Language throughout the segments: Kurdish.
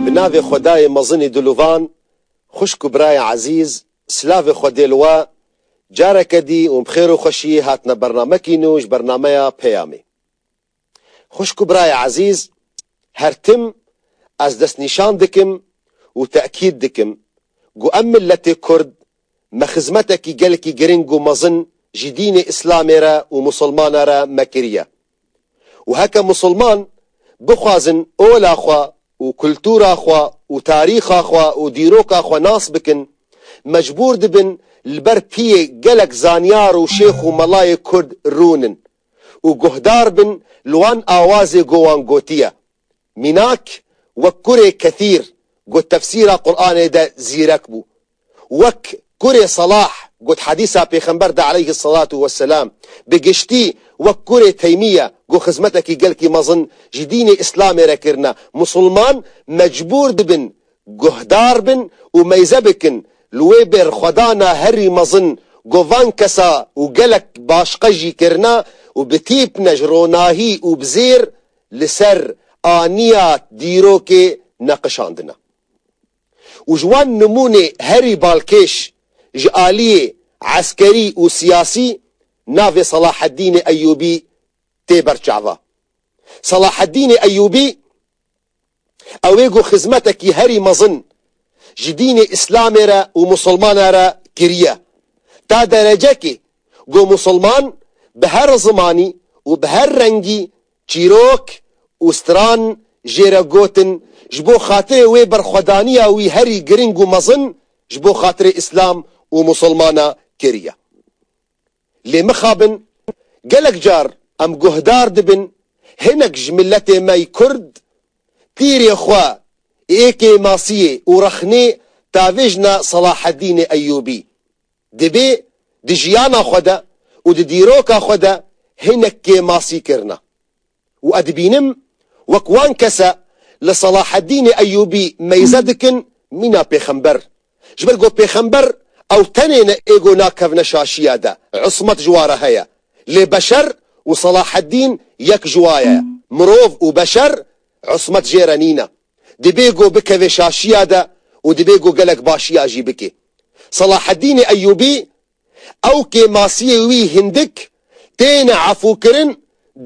Bi navê Xwedayê mezinî diluvan, xwişk û birayê ezîz, silavê xwe dê li we, careke dî û bi xêr û xweşiyê hatine bernamekî nû ji bernameya Peyamê. Xwişk û birayê ezîz, her tim ez destnîşan dikim û tekîd dikim ku em miletê Kurd me xizmetekî gelekî giring û mezin ji dînê Îslamê re û Musilmana re me kiriye û heke Musilman bixwazin ola xwe û kultura xwe û tarîxa xwe û dîroka xwe nas bikin mecbûr dibin li ber piyê gelek zanyar û şêx û melayê Kurd rûnin û guhdar bin li wan awazê ku wan gotiye. Mînak wek kurê Kethîr got tefsîra Quranê de zîrek bû. Wek kurê Selah got hedîsa pêxember de aleyhi selatû we selam. Bi giştî wek kurê Teymîye ku xizmetekî gelkî mezin ji dînê îslamê re kirine. Musulman mecbûr dibin guhdar bin û meyze bikin li wê bêrxwedana herî mezin ku van kesa û gelek başqe jî kirina û bi tîpne ji ronahî û bi zêr li ser aniya dîrokê neqişandina û ji wan nimûnê herî balkêş ji aliyê eskerî û siyasî navê Selaheddînê Eyûbî tê berçava. Selaheddînê Eyûbî. Ew ê ku xizmetekî herî mezin ji dînê îslamê re û misilmana re kiriye, ta derecekê ku misilman bi her zimanî û bi her rengî çîrok û stran jê re gotin ji bo xatirê wê berxwedaniya wî herî giring û mezin ji bo xatirê îslam û misilmana kiriye. Lê mixabin gelek car em guhdar dibin hinek ji miletê me yî kurd tîrê xwe ê kêmasiyê û rexnê tavêjna Selahedînê Eyûbî dibê di jiyana xwe de û di dîroka xwe de hinek kêmasî kirina. û ez dibînim wek wan kese li Salaheddînê Eyûbî meyze dikin mîna pêxember. Ji ber ku pêxember ew tenê ne ê ku nakevne şaşiya de, ismet ji wa re heye. Lê beşer û Salaheddîn yek ji wa ye. Mirov û beşer ismet jê re nîne. Dibê ku bikevê şaşiya de û dibê ku gelek başiya jî bikê. Salaheddînê Eyûbî Ew kê masiyê wî hindik têne efûkirin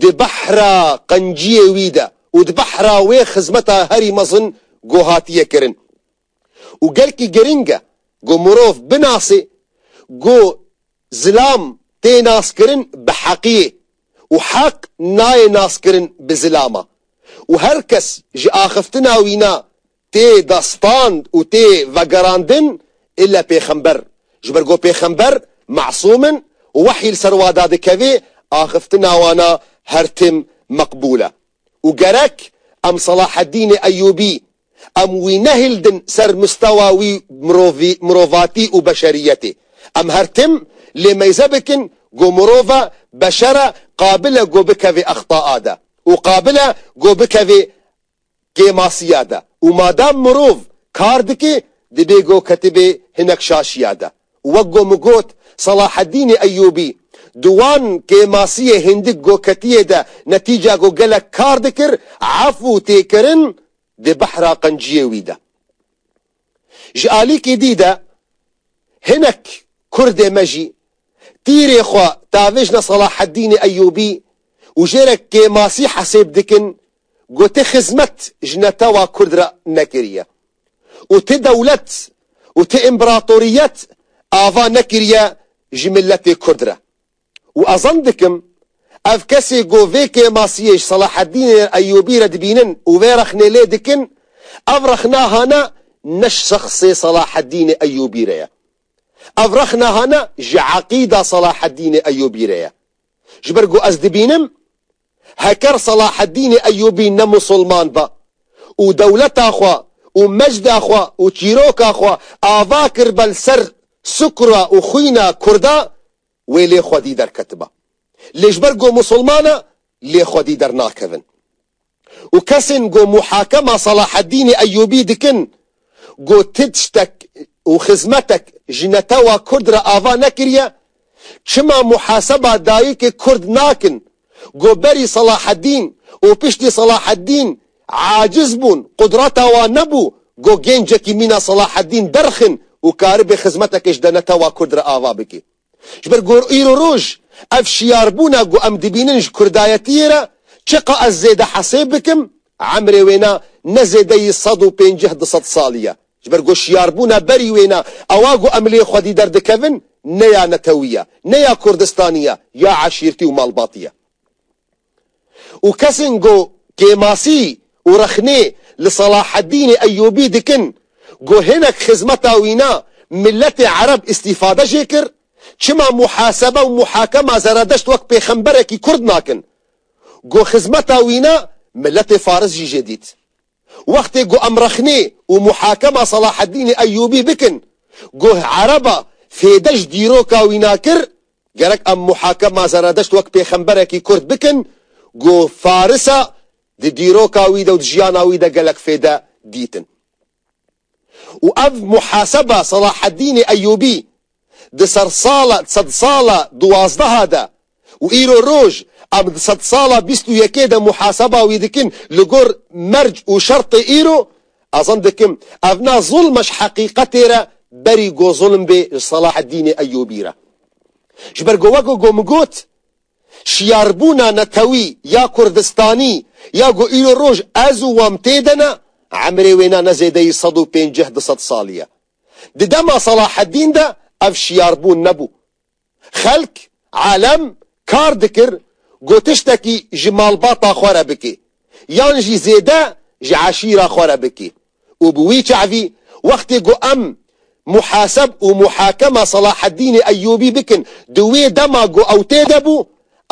di behra qenciyê wî de û di behra wê xizmeta herî mezin ku hatiye kirin. Û gelkî giring e ku mirov binasê ku zilam tê naskirin bi heqiyê û heq nayê naskirin bi zilama û her kes ji axiftina wîna tê da stand û tê vegerandin îlle pêxember, ji ber ku pêxember mesûm in û wehyî li ser wan da dikevê, axiftina wan a her tim meqbûl e û gerek em Selaheddînê Eyûbî em wî nehildin ser mistewa wî mirovî mirovatî û beşeriyetê. Em her tim lê meyze bikin ku mirov e, beşer e, qabil e ku bikevê exta a de û qabil e ku bikevê kêmasiya de û madam mirov kar dike dibê ku ketibê hinek şaşiya de û wek ku min got Selahedînê Eyûbî di wan kêmasiyê hindik ku ketiyê de netîca ku gelek kar dikir ef û têkirin di behra qenciyê wî de Ji alîkî dî de hinek kurdê me jî tîrê xwe davêjne Salaheddînê Eyûbî û jêrek kêmasî hesêb dikin ku ti xizmet ji netewa kurd re nekiriye û ti dewlet û ti împeratoriyet ava nekiriye ji miletê kurd re. Û ez zan dikim, ev kesê ku vê kêmasiyê ji Selaheddînê Eyûbî re dibînin û vê rexnê lê dikin, ev rexna hane ne ji şexsê Selaheddînê Eyûbî re ye. Ev rexna hane ji eqîda Selaheddînê Eyûbî re ye. Ji ber ku ez dibînim, heker Selaheddînê Eyûbî ne Musulman be û dewleta xwe û mecda xwe û çîroka xwe ava kir be li ser sukra û xwîna Kurda, wê lê xwedî derketiba. Lê ji ber ku Musulman e lê xwedî dernakevin. Û kesên ku muhakema Salaheddînê Eyûbî dikin ku ti tiştek û xizmetek ji netewa Kurd re ava nekiriye, çima muhaseba dayikê Kurd nakin Ku berî Salaheddîn û piştî Salaheddîn aciz bûn, qudrata wan nebû ku gêncekî mîna Salaheddîn derxin û karibe xizmetekê ji denetewa kurd re ava bike. Ji ber ku îro û roj ev şiyarbûna ku em dibînin ji kurdayetiyê re çiqa ez zêde hesêb bikim, emrê wêna ne zêdeyî sed û pênceh du sed salî ye. Ji ber ku şiyarbûna berî wê ne, ewa ku em lê xwedî derdikevin ne ya netewî ye, ne ya kurdistanî ye, ya eşîrtî û malbatî ye. Û kesên ku kêmasî û rexnê li Salaheddînê Eyûbî dikin ku hinek xizmeta wî ne, miletê ereb îstîfade jê kir, çima muhasebe û muhakema Zeredeşt wek pêxemberekî kurd nakin? Ku xizmeta wî ne, miletê faris jî jê dît. Wextê ku em rexnê û muhakema Selaheddînê Eyûbî bikin, goh ereba fêde ji dîroka wî nakir, gerek em muhakema Zeredeşt wek pêxemberekî kurd bikin, ku faris e, di dîroka wî de û di jiyana wî de gelek fêde dîtin. û ev muhaseba Selahaddînê Eyûbî di sersala di sedsala duwazdeha de û îro roj em di sedsala bîst û yekê de muhaseba wî dikin li gor merc û şertê îro ez zan dikim ev na zulme ji heqîqetê re berî ku zulm bê ji Selahaddînê Eyûbî re ji ber ku wek ku min got Şiyarbûna netewî ya kurdistanî ya ku îro roj ez û wan tê de ne, emrê wê ne ne zêdeyî sed û pênceh du sed salî ye. Di dema Selahedîn de ev şiyarbûn nebû. Xelk, elem, kar dikir ku tiştekî ji malbata xwe re bikê yan jî zêde ji eşîra xwe re bikê. û bi wî çavî wextê ku em muhaseb û muhakema Selahaddînê Eyyûbî bikin di wê dema ku ew tê de bû,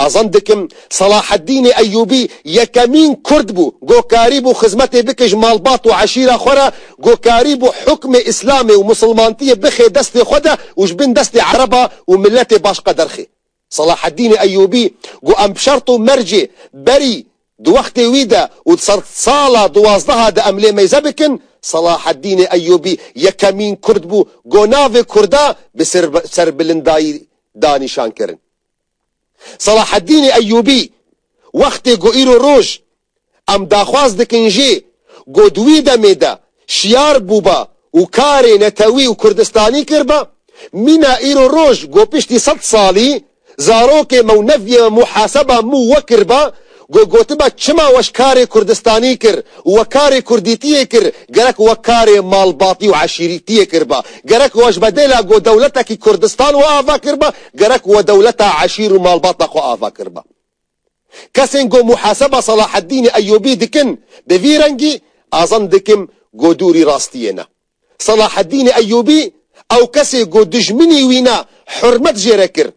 azend dikim Selahaddînê Eyyûbî yekemîn Kurd bû ku karî bû xizmetê bike ji malbat û eşîra xwe re, ku karî bû hukmê Îslamê û Misilmantiyê bixê destê xwe de û ji bin destê Ereba û miletê başka derxê. Selahaddînê Eyûbî got em bi şert û mercê berî di wextê wî de û di ser sala duwazdeha de em lê meyze bikin, Selahaddînê Eyûbî yekemîn kurd bû ku navê kurda bi serbilindayî da nîşan kirin. Selahaddînê Eyûbî wextê ku îro roj Em daxwaz dikin jî ku di wî demê de şiyar bûba û karê netewî û kurdistanî kirba, mîna îro roj ku piştî sed salî zarokê me û neviyê me muhaseba mû we kirba ku gotiba çima we ji karê kurdistanî kir û we karê kurdîtiyê kir gerek we karê malbatî û eşîrîtiyê kirba gerek we ji bedêla ku dewletekî kurdistan we ava kirba gerek we dewleta eşîr û malbata xwe ava kirba. Kesên ku muhaseba Salaheddînê Eyûbî dikin bi vî rengî azend dikim ku dûrî rastiyê ne. Salaheddînê Eyûbî ew kesê ku dijminî wî ne hurmet jê re kir.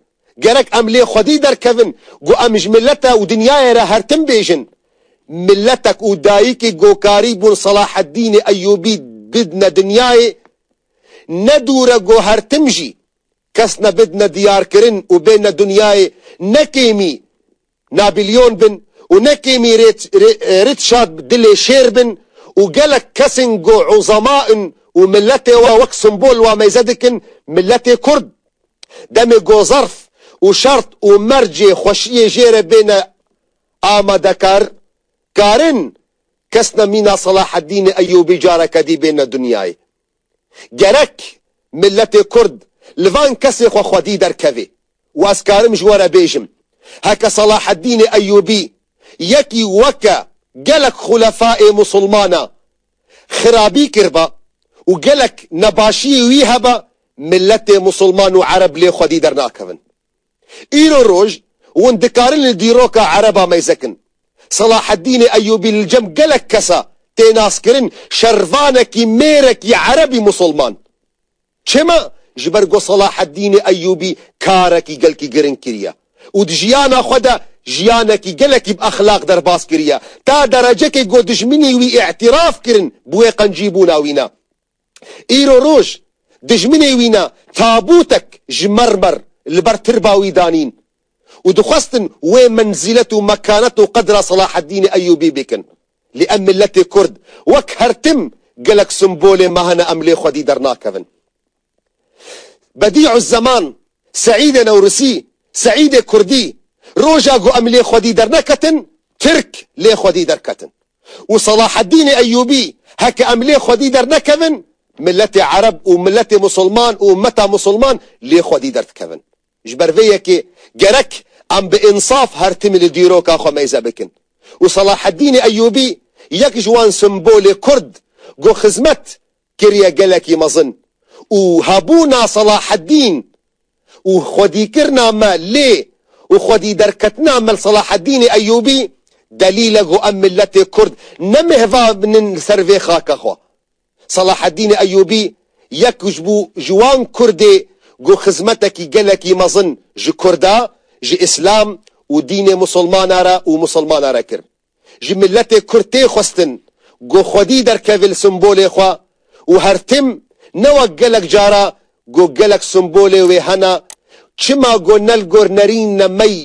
Gerek em lê xwedî derkevin ku em ji milete û dinyayê re her tim bêjin. Miletek û dayikek ku karî bûn Salaheddînê Eyûbî bidne dinyayê, ne dûr e ku her tim jî Kes nebid ne diyarkirin û bê ne dinyayê ne kêmî Nabilyon bin û ne kêmî Rîtşad dilê şêr bin û gelek kesên ku uzema in û miletê we wek simbol wameyze dikin miletê kurd demê ku zerf û şert û mercê xweşiyê jê re bêne amadekar karin kes ne mîna Selahedînê Eyûbî careke dî bê ne dinyayê. Gerek miletê kurd li van kesên xwe xwedî derkevê û ez karim ji we re bêjim, heke Salaheddînê Eyûbî yekî weke gelek xulefayê musulmana xirabî kiriba û gelek nebaşiyê wî heba, miletê musulman û ereb lê xwedî dernakevin. Îro roj hûn dikarin li dîroka ereba meyzekin. Selaheddînê Eyûbî li cem gelek kesa tê naskirin şervanekî mêrekî erebî musulman. Çima? Ji ber ku Selaheddînê Eyûbî karekî gelkî giring kiriye û di jiyana xwe de jiyanekî gelekî bi exlaq derbas kiriye ta derecekê ku dijminî wî îtiraf kirin bi wê qencîbûna wî ne. Îro roj dijminê wî ne tabûtek ji mermer li ber tirba wî danîn û dixwestin wê menzîlet û mekanet û qedra Selaheddînê Eyûbî bikin. Lê em miletê Kurd wek her tim gelek simbolê me hene em lê xwedî dernakevin. Bedî'uzzeman, Seîdê Newrusî, Seîdê Kurdî, Roja ku em lê xwedî derneketin, Tirk lê xwedî derketin. Û Selaheddînê Eyyûbî, Heke em lê xwedî dernekevin, miletê Ereb û miletê Musulman û ummeta Musulman lê xwedî derdikevin. Ji ber vê yekê gerek em bi însaf her tim li dîroka xwe mêze bikin. Û Selaheddînê Eyyûbî yek ji wan simbolê Kurd ku xizmet kiriye gelekî mezin û hebûna Selaheddîn û xwedîkirina me lê û xwedîderketina me li Selaheddînê Eyûbî delîl e ku em miletê Kurd ne mehva binin li ser vê xaka xwe. Selaheddînê Eyûbî yek ji bû ji wan Kurdê ku xizmetekî gelekî mezin ji Kurda, ji Îslam û dînê Musulmana re û Musulmana re kirin. ji miletê kurd tê xwestin ku xwedî derkeve li simbolê xwe û her tim ne wek gelek cara ku gelek simbolê wê hene çima ku ne li gor nerîn ne mey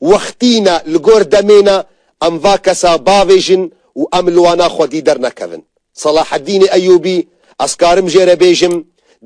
wextî ne li gor demê ne em va kesa bavêjin û em li wana xwedî dernekevin. Salaheddînê Eyûbî, Ez karim jê re bêjim,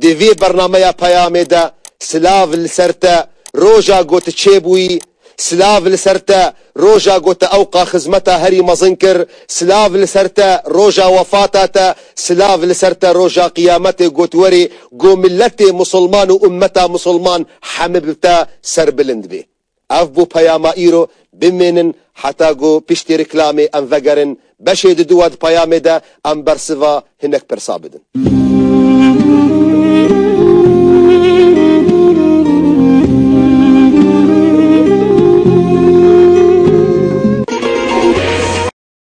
di vê bernameya peyamê de silav li ser te, roja ku tu çêbûyî, silav li ser te, roja ku tu ewqa xizmeta herî mezin kir, silav li ser te, roja wefata te, silav li ser te, roja qiyametê ku tu werî, ku miletê musulman û ummeta musulman hemibte serbilind bê. Ev bû peyama îro, bimênin heta ku piştî rîklamê em vegerin, beşê di dû a di peyamê de em bersiva hinek pirsa bidin.